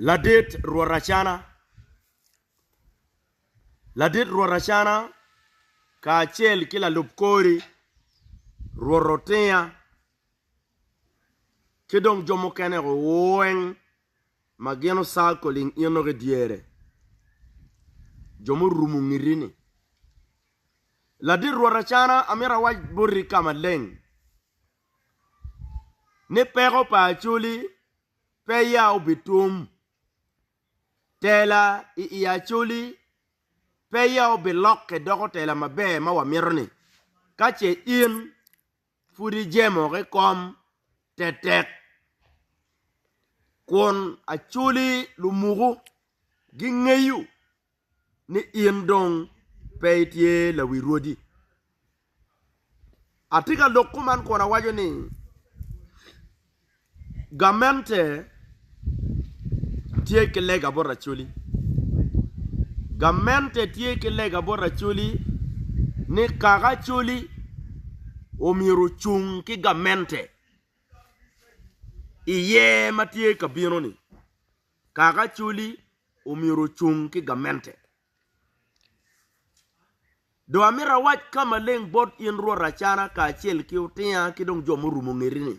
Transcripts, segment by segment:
Ladit rwot Acana Ladit rwot Acana kacel ki lalub kori, rwot Otinya, ki dong jo mukene weng ma gin ocakoling in dok i dyere, jo murumo ngiti-ni. Ladit rwot Acana, amito awac boti ka maleng. ni peko pa Acoli peya obitum, tela i i Acoli peya obilokke doko tela maber ma wamito-ni, ka ce in pud ijemo ki kom tetek, kun Acoli lumuku gingeyo. ni in dong pe itye lawi rwodi. Atye ka lok kuman kun awaco ni, Gamente tye ki lega bot Acholi. Gamente tye ki lega bot Acholi ni kaka Acholi omyero ocung ki gamente iye ma tye ka bino-ni. Kaka Acholi omyero ocung ki gamente. Dong amito awac ka maleng bot in rwot Acana kacel ki otinga ki dong jo murumo ngeti-ni,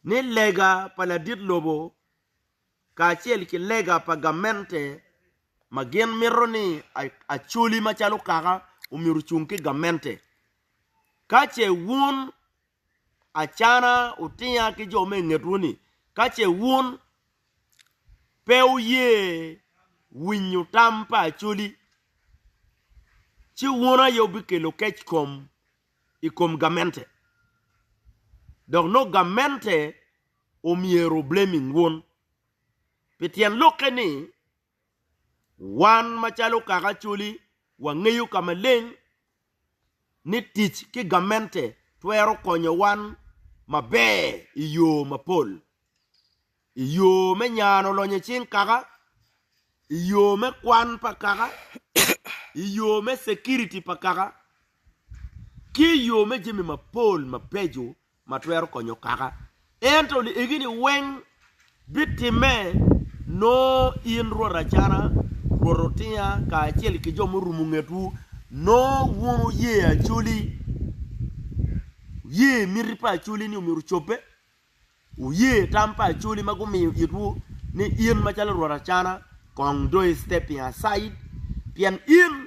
ni lega pa ladit lobo kacel ki lega pa gamente ma gin mito ni Acholi macalo kaka omyero ocung ki gamente. Ka ce wun acana wutinga ki jo me i ngetwu ni ka ce wun pe wuye winyo tam pa Acholi, ci wun aye wubikelo keckom i kom gamente, dok nongo gamente omyero oblaming wun. Pi tyen lokke ni, Wan macalo kaka Acholi wangeyo ka maleng ni tic ki gamente twero konyo wan maber i yo mapol, i yo me nyano lonyo cing kaka, i yo me kwan pa kaka, i yo me security pa kaka, ki i yo me jami mapol mabeco ma twero konyo kaka. Ento liegini weng bitimme nongo in rwot acana, rwot otinga, kacel ki jo murumo ngetwu, nongo wun wuye Acholi, wuye miti pa Acholi ni omyero ocobbe, wuye tam pa Acholi ma gumiyo itwu ni in macalo rwot acana kong dong i stepping aside, pien in.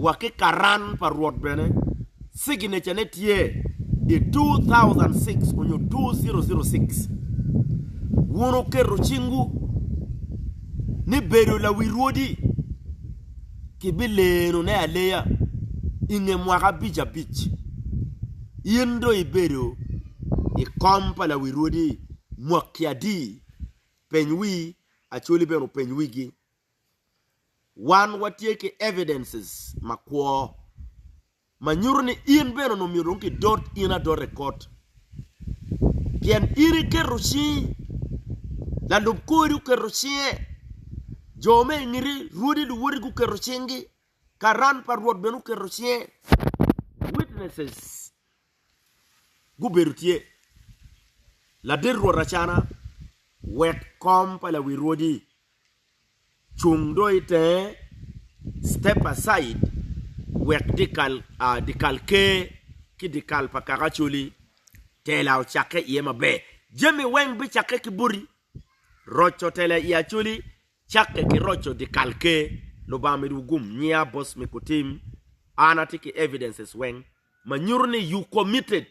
wa ki Karan pa Rwot bene, cigineca ne tye i 2006 onyo 2006. Wun wuketo cingwu ni bedo lawi rwodi ki bi leno ne aleya i nge mwaka abic abic. In do i bedo i kom pa lawi rwodi mwaki adi? Peny wi Acoli bene openy wigi Wan watye ki evidences makwo ma nyuto ni in bene onongo myero dong kidot in adota i kot, pien in iketo cingi, lalub kori oketo cinge, jo me i ngiti, rwodi, luwoti guketo cinggi, karan pa Rwot bene oketo cinge, witnesses gubedo tye ladit rwot acana wek kom pa lawi rwodi cung do i tenge, step aside, wek dyekal ker ki dyekal pa kaka Acholi tela ocakke iye maber. Jami weng bicakke ki boti, roco tela i Acholi cakke ki roco dyekal ker. Lubanga omido wu gum, nyiya Bosmic otim, an atye ki evidences weng. ma nyuto ni you committed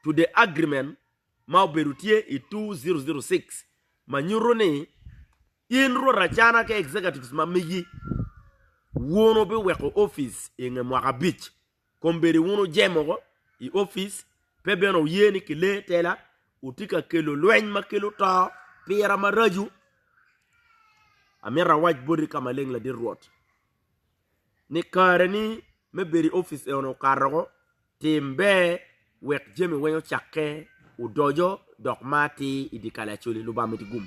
to the agreement ma obedo tye i 2006 ma nyuto ni in rwot acana ki executives ma megi wun wubiweko office i nge mwaka abic kombeddi wun wujemoko i office pe bene wuye ni kile tela wutye ka kelo lweny ma kelo to pira maraco. Amito awac boti ka maleng ladit rwot. ni kareni me bedo i opic eno okato woko, tim ber wek jami weng ocakke odoco dok ma atir i dye kal acoli. Lubanga omiti gum.